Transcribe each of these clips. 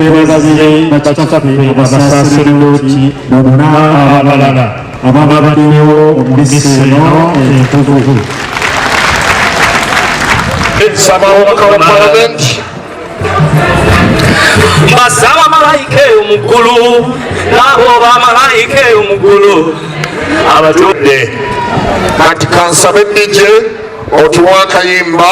bebazire bakitafe basasire loti nobona abalala ababa baliwo omubisi eno entukuvu nsaba omubaka wa palamenti basaba malayika eyo mu ggulu naabo oba malayika eyo mu ggulu abatudde kati kansabe dije otuwa akayimba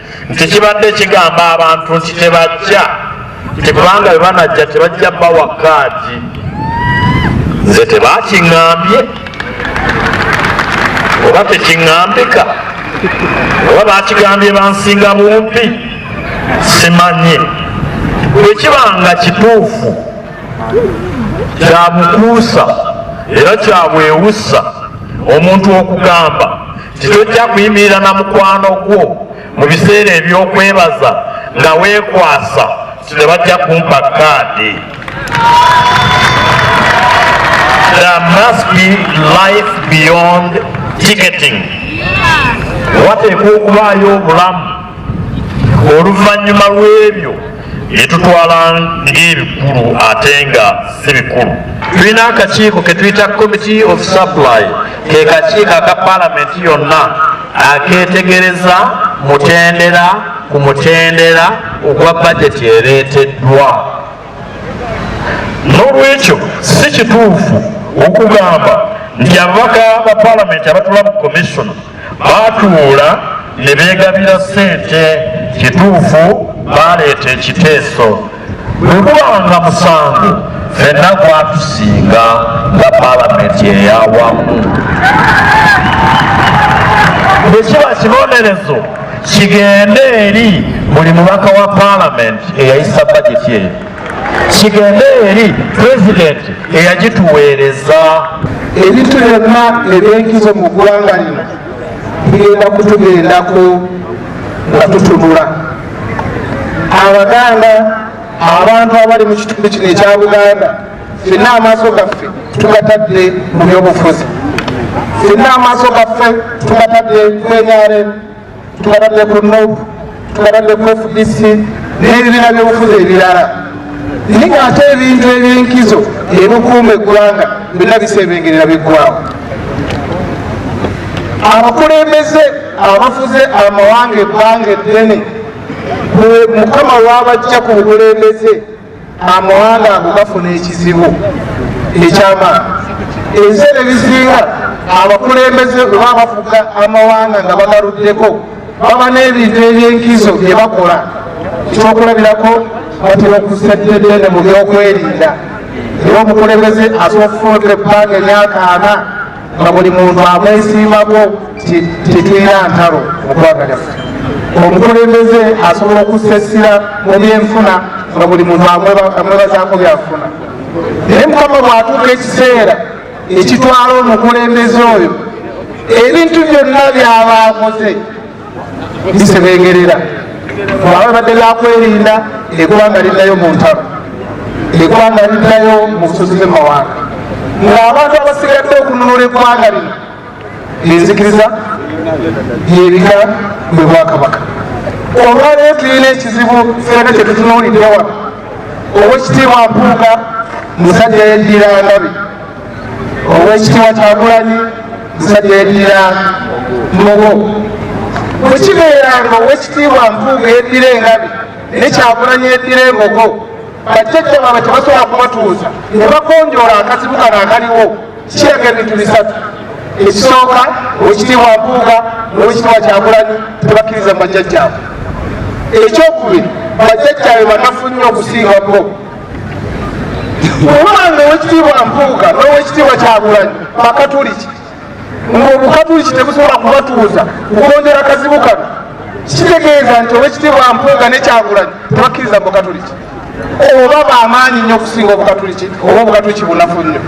nti kibadde kigamba abantu nti tebajja nti kubanga bebanajja tebajja bawa kaadi nze tebakiŋambye oba tekiŋambika oba bakigambye bansinga bumpi simanye bwekiba nga kituufu kyabukuusa era kyabwewusa omuntu okugamba Tetujja kuyimirira na mukwano gwo mu biseera eby'okwebaza nga weekwasa nti tebajja kumpa kaadi. There must be life beyond ticketing. Wateekwa okubaayo obulamu oluvannyuma lw'ebyo. bye tutwala ng'ebikulu ate nga si bikulu tulina akakiiko ke tuyita committee of supply ke kakiiko aka palamenti yonna akeetegereza mutendera ku mutendera ogwa bajeti ereeteddwa n'olwekyo si kituufu okugamba nti ababaka ba palamenti abatula mu commission baatuula ne beegabira ssente kituufu baaleeta ekiteeso bwe gubanga musango fenna gwatusinga nga palamenti eyawamu bwe kiba kibonerezo kigende eri buli mubaka wa palamenti eyayisa bajeti eyo kigende eri pulezidenti eyagituweereza ebintu byonna ebyenkizo mu ggwanga lino bigenda kutugendako nga tutunula abaganda abantu abali mu kitundu kino ekya buganda fenna amaaso gaffe tugatadde mu byobufuzi fenna amaaso gaffe tugatadde kwenyaremu tubadde ku nob tubadde ku fdc n'ebibiina byobufuzi ebirala naye nga ate ebintu ebyenkizo ebikuuma eggwanga byonna bisebengerera biggwawo abakulembeze abafuze amawanga ebbanga eddene mukama wabajja ku bukulembeze amawanga ago gafuna ekizibu ekyamaani ebiseera ebisinga abakulembeze oba abafuga amawanga nga bagaluddeko baba n'ebintu ebyenkizo bye bakola ekyokulabirako batera okuseddedene mu byokwerinda era omukulembeze asobola okufuna ebbanga emyaka ana nga buli muntu amwesiimako tetulina ntalo muggwanga lyaffe omukulembeze asobola okussa essira mu byenfuna nga buli muntu amwebazaako byafuna naye mukama bwatuuka ekiseera ekitwala omukulembeze oyo ebintu byonna byaba akoze bisebengerera bwaba babadde bakwerinda egwanga liddayo mu ntalo egwanga liddayo mu busozi bwemawanga ngaabantu abasigadde okununula egwanga lino enzikiriza yebika bwe bwakabaka olwaleero tulina ekizibu fena kyetutunuuliddewa owekitiibwa mpuuga musajja yeddiira ngabi owekitiwa kyagulanyi musajja yedira mugo bwekibeera nga owekitiibwa mpuuga yedira engabi nekyagulanyi yedira embogo bajjajja baabwe tebasobola kubatuuza ne bagonjoola akazibu kano akaliwo kiraga ebintu bisatu ekisooka owekitiibwa mpuuga nowekitiibwa kyagulanyi tebakkiriza mu bajjajjaabwe ekyokubiri bajjajjaabe banafu nnyo okusinga bo olwanga owekitiibwa mpuuga n'owekitiibwa kyagulanyi bakatuliki ng'obukatuliki tebusobola kubatuuza kugondera kazibu kano kitegeeza nti owekitiibwa mpuuga nekyagulanyi tebakkiriza mubukatuliki oba bamaanyi nnyo okusinga obukatuliki oba obukatuliki bunafu nnyo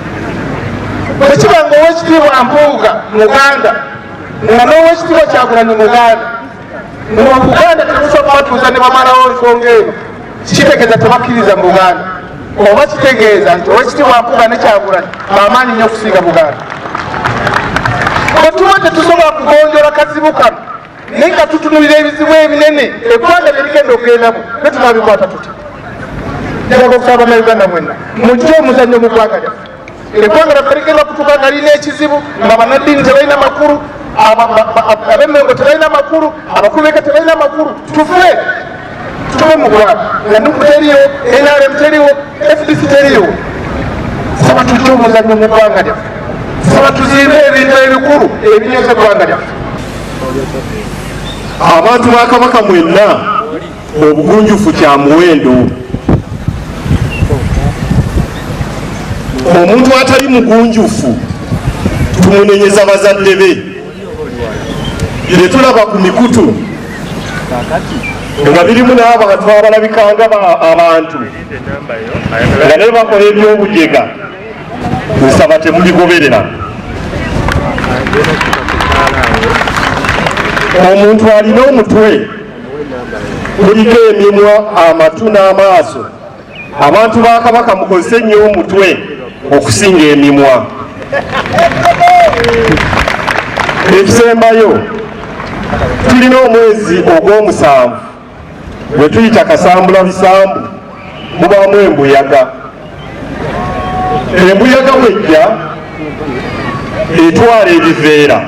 bwekiba nga owekitiibwa mpuuga muganda nga n'owekitiibwa kyagulanyi muganda mu buganda temusobola batuuza ne bamalawo nsonga eno kitegeeza tebakkiriza mu buganda oba kitegeeza nti owekitiibwa nkuga ne kyagulanyi bamaanyi nnyo okusinga buganda bwetuba tetusobola kugonjola kazibu kano naye nga tutunulira ebizibu ebinene eggwanga byebigenda okugendamu ne tunabikwata tuti njagala okusaba banauganda mwenna mujje omuzannyo mu ggwanga lyaffe eggwanga laffe ligenda okutuuka nga lirina ekizibu nga banaddiini tebalina makulu abemengo tebalina makulu abakulu beka tebalina makulu tufe tube mugwanga nanuku teriyo nrm teriwo fdc teriwo saba tujja omuzanyo mu ggwanga lyaffe saba tuzimbe ebintu ebikulu ebinyoza eggwanga lyaffe abantu bakabaka mwenna obugunjufu kya muwendo omuntu atali mugunjufu tumunenyeza bazadde be byetulaba ku mikutu nga birimu n'abantu abalabikanga abantu nga naye bakola ebyobujega nsaba temubigoberera omuntu alina omutwe kuliko emimwa amatu n'amaaso abantu ba kabaka mukozese nnyo omutwe okusinga emimwa ekisembayo tulina omwezi ogw'omusanvu wetuyita kasambula bisambu mubaamu embuyaga embuyaga bwejja etwala ebiveera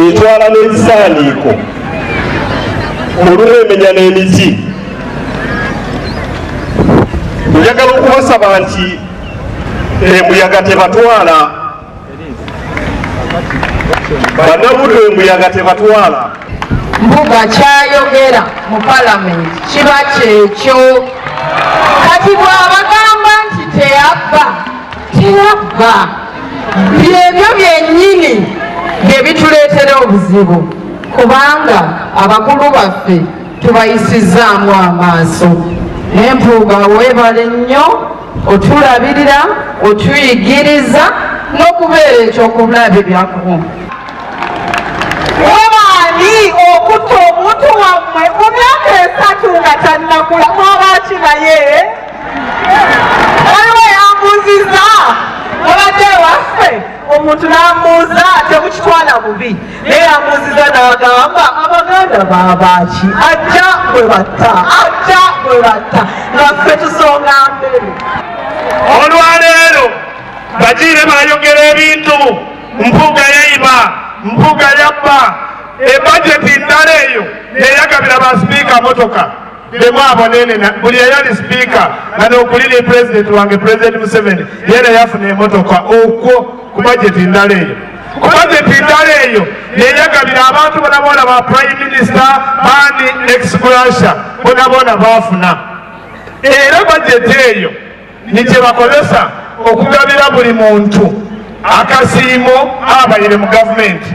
etwala n'ebisaaniiko olumu emenya n'emiti njagala okubasaba nti embuyaga tebatwala banabuto embuyaga tebatwala mbuga kyayogera mu palamenti kiba kyekyo kati bwabagamba nti teyabba teyabba byebyo byenyini byebituleetera obuzibu kubanga abakulu baffe tubayisizaamu amaaso nempuuga webale nnyo otulabirira otuyigiriza n'okubeera ekyokulabirako webaani okutta omuntu wammwe mu myaka esatu nga tannakula mwabaaki naye waliwo yambuziza mubadde waffe omuntu n'ambuuza temukitwala bubi naye yambuuziza n'agamba abaganda babaaki ajja bwe batta ajja bwe batta nga ffe tusonga mbere olwaleero bagiire bayogera ebintu mpuga yaiba mpuga yabba ebajeti ndala eyo yeyagabira basipiika motoka bemu abonenena buli eyali sipiika nga nokuliri pulezidenti wange pulezidenti museveni yena yafuna emotoka okwo ku bajeti ndala eyo ku bajeti ndala eyo yeyagabira abantu bonabona ba prime minisita bani exgrasha bonabona bafuna era bajeti eyo ni kye bakozesa okugabira buli muntu akasiimo abayire mu gavumenti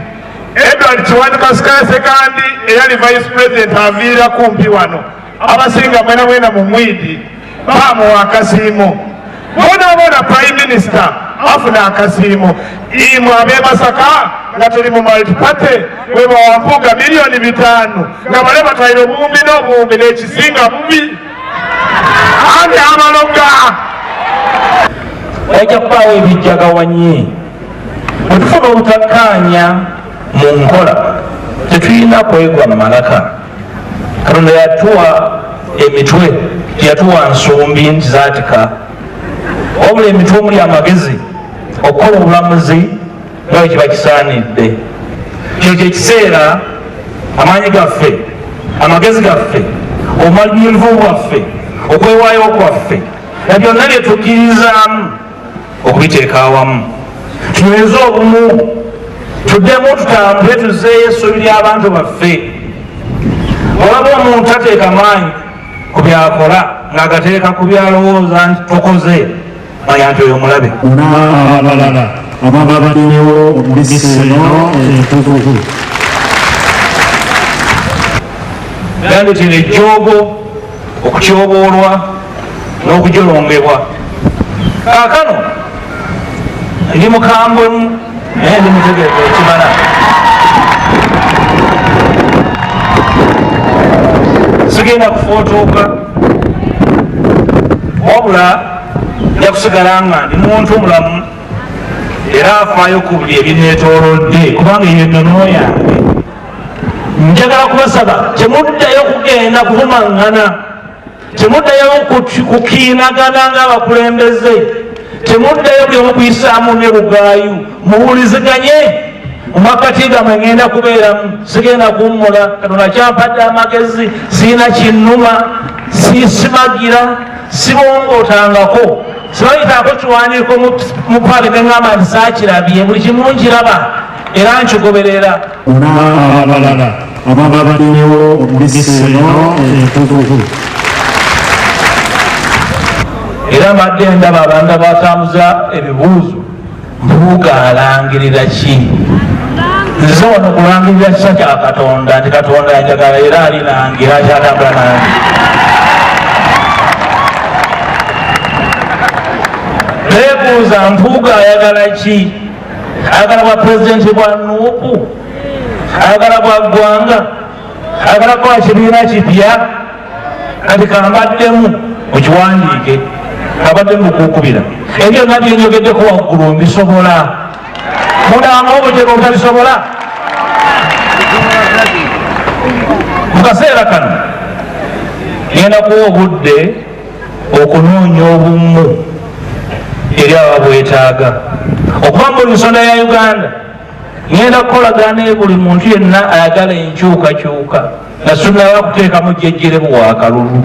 edward kiwanuka sikasekandi eyali vice president aviira kumpi wano abasinga mwena mwena mu mwidi bamuwa akasiimo bonaboona prime minister afuna akasiimo imwe abemasaka nga tuli mu multiparty webawampuga miliyoni bitaano nga bale batwaire obuwumbi n'obuwumbi n'ekisinga bubi ani abaloga wajja kubaawo ebijjagawanye bwetufuna obutakkaanya mu nkola tetulina kwegwa mu malaka katonda yatuwa emitwe teyatuwa nsumbi nti zaatika wabula emitwe omuli amagezi okukola obulamuzi nga bwe kiba kisaanidde. Kino kye kiseera amaanyi gaffe, amagezi gaffe, obumalirivu bwaffe, okwewaayo kwaffe na byonna bye tukkirizaamu okubiteeka awamu tunyweze obumu tuddemu tutambule tuzeeyo essuubi ly'abantu baffe olaba omuntu ateeka maanyi ku byakola ng'agateeka ku byalowooza nti tukoze Bayante oyo mulabe. N'abalala ababa baliwo mu missa eno entukuvu. Gambye nti n'ejjoogo okutyoboolwa n'okujolongebwa kaakano ndi mukambwemu naye ndi mutegeevu ekimala sigenda kufootooka wabula nja kusigala nga ndi muntu mulamu era afaayo ku buli ebineetoolodde kubanga eyo ennono yange njagala kubasaba temuddayo kugenda kuvumaŋŋana temuddayo kukiinagana ng'abakulembeze temuddayo byomu kuyisaamu ne lugaayu muwuliziganye mumakati gamwe ngenda kubeeramu sigenda kuwummula katonda kyampadde amagezi siina kinnuma sisimagira sibongootangako sibayitaako kiwandiiko mu paali ne ŋŋamba nti saakirabye buli kimu nkiraba era nkigoberera ona abalala ababa baliwo omubisi eno entukuvu era mbadde ndaba abanda batambuza ebibuuzo Mpuuga alangirira ki? Nze wano kulangirira kisa kya Katonda nti Katonda anjagala era ali nange era akyatambula nange. Beebuuza Mpuuga ayagala ki? Ayagala bwa pulezidenti bwa Nuupu? Ayagala bwa ggwanga? Ayagala bwa kibiina kipya? kati kambaddemu mukiwandiike abadde mukukubira ebyo byonna byenyogeddeko waggulu mbisobola mudanga obutego obutabisobola mu kaseera kano ngenda kuwa obudde okunoonya obumu eri ababwetaaga okuba mu nsonda ya uganda ngenda kukolagana buli muntu yenna ayagala enkyukakyuka nga tunnaba kuteekamu jjejjeremu wa kalulu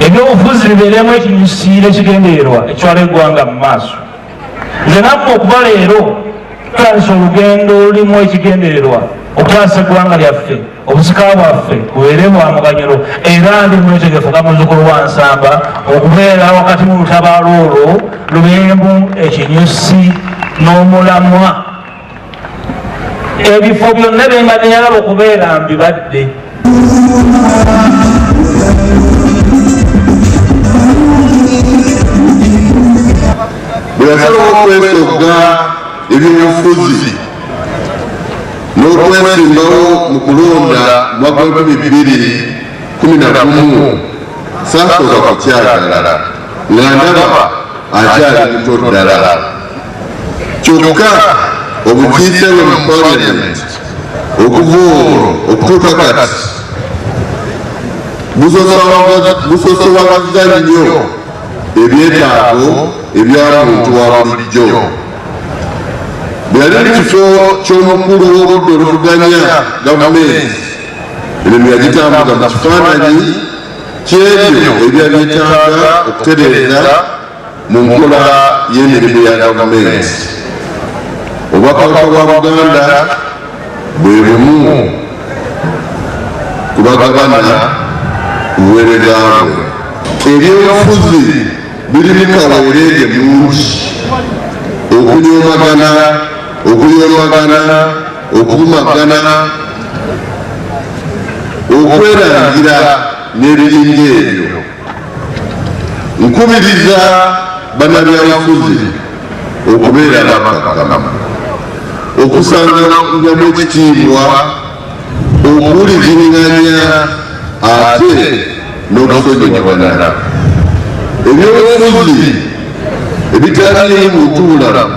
ebyobufuzi bibeeremu ekinyusiira ekigendererwa ekiwala eggwanga mu maaso nze nammwe okuba leero tutandisa olugendo olulimu ekigendererwa okutaasa eggwanga lyaffe obusika bwaffe bubeere bwa muganyulo era ndi mwetegefu nga muzukulu wa nsamba okubeera wakati mu lutabaalo olwo lubembu ekinyusi n'omulamwa ebifo byonna bembadde yalaba okubeera mbibadde bweyasalawo okwesogga ebyobufuzi n'okwesimbawo mu kulonda mwaka lukumi bbiri kumi na gumu saasooka kukyagala nga ndaba akyali muto ddala kyokka obukiise bwe mu parliament okuva olwo okutuuka kati busosowagazza nnyo ebyetaago ebyamuntu wa bulijjo bweyali mu kifo ky'omukulu w'obudde oluvuganya gavumenti emirimu yagitambuza mu kifaananyi kyebyo ebyali byetaaga okutereeza Mu nkola y'emirimu ya gavumenti, Obwakabaka bwa Buganda bwe bumu ku bagabana ku buweereza bwe. Ebyobufuzi birimu kaweereege mungi, okunyoomagana, okuyoomagana, okuvumagana, okwerangira n'ebiringa ebyo. nkubiriza banabyabufuzi okubeera abakakamamu okusangamu ekitiibwa okuwulizinganya ate n'okusonyiwanana ebyobufuzi ebitaliimu mutuulamu